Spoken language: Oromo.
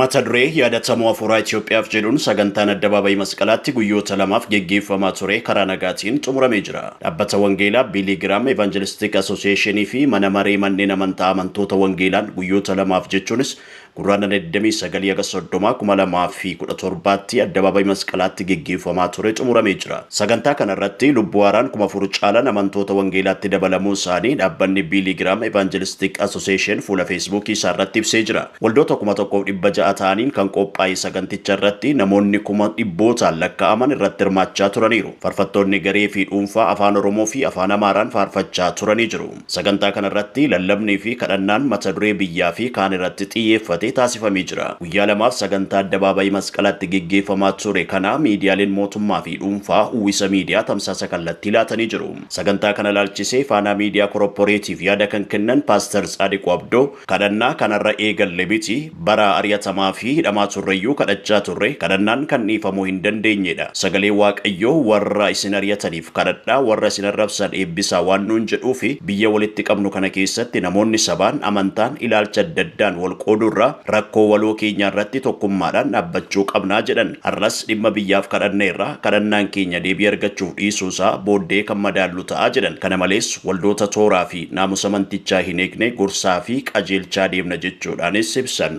Mata duree Yaadatamuu Afuuraa Itiyoophiyaaf jedhuun sagantaan Addabaabayii Masqalaatti guyyoota lamaaf geggeeffamaa ture karaa nagaatiin xumuramee jira. Dhaabbata Wangeelaa Biilii Giraam Evanjelistik Asooseeshinii fi Mana Maree Manneen Amantaa Amantoota Wangeelaan guyyoota lamaaf jechuunis Gurraandhala 29 haga 30, 2017tti Addabaabayii Masqalaatti geggeeffamaa ture xumuramee jira. Sagantaa kana irratti lubbuu haaraan 4,000 caalan amantoota Wangeelaatti dabalamuu isaanii dhaabbanni Biilii Giraam Evanjelistik Asooseeshin fuula Feesbuukii isaa irratti ibsee jira. Waldoota 1,600 ta'aniin kan qophaa'e saganticha irratti namoonni kuma dhibbootaan lakka'aman irratti hirmaachaa turaniiru. Farfattoonni garee fi dhuunfaa Afaan Oromoo fi Afaan Amaaraan faarfachaa turanii jiru. Sagantaa kana irratti lallabnii fi kadhannaan mata duree biyyaa fi kaan irratti xiyyeeffate taasifamee jira. Guyyaa lamaaf sagantaa Addabaabayii Masqalaatti geggeeffamaa ture kana miidiyaaleen mootummaa fi dhuunfaa Uwwisa Miidiyaa tamsaasa kallattii laatanii jiru. Sagantaa kana ilaalchisee Faanaa Miidiyaa Koropporeetiif yaada kan kennan Paastar Tsaadiquu Abdoo, Kadhannaa kan har'a eegalle miti. Bara ari'atamaa fi hidhamaa turreyyuu kadhachaa turre. Kadhannaan kan dhiifamuu hin dandeenye dha. Sagalee Waaqayyoo warra isin ari'ataniif kadhadhaa, warra isin arrabsan eebbisaa waan nuun jedhuufi. Biyya walitti qabnu kana keessatti namoonni sabaan, amantaan, ilaalcha adda addaan wal qooduu irra rakkoo waloo keenyaa irratti tokkummaadhaan dhaabbachuu qabna, jedhan. Har'as dhimma biyyaaf kadhanneerra. Kadhannaan keenya deebii argachuuf dhiisuu isaa booddee kan madaallu ta'a, jedhan. Kana malees, waldoota tooraa fi. naamusa mantichaa hin eegne gorsaa fi qajeelchaa deemna jechuudhaanis ibsan.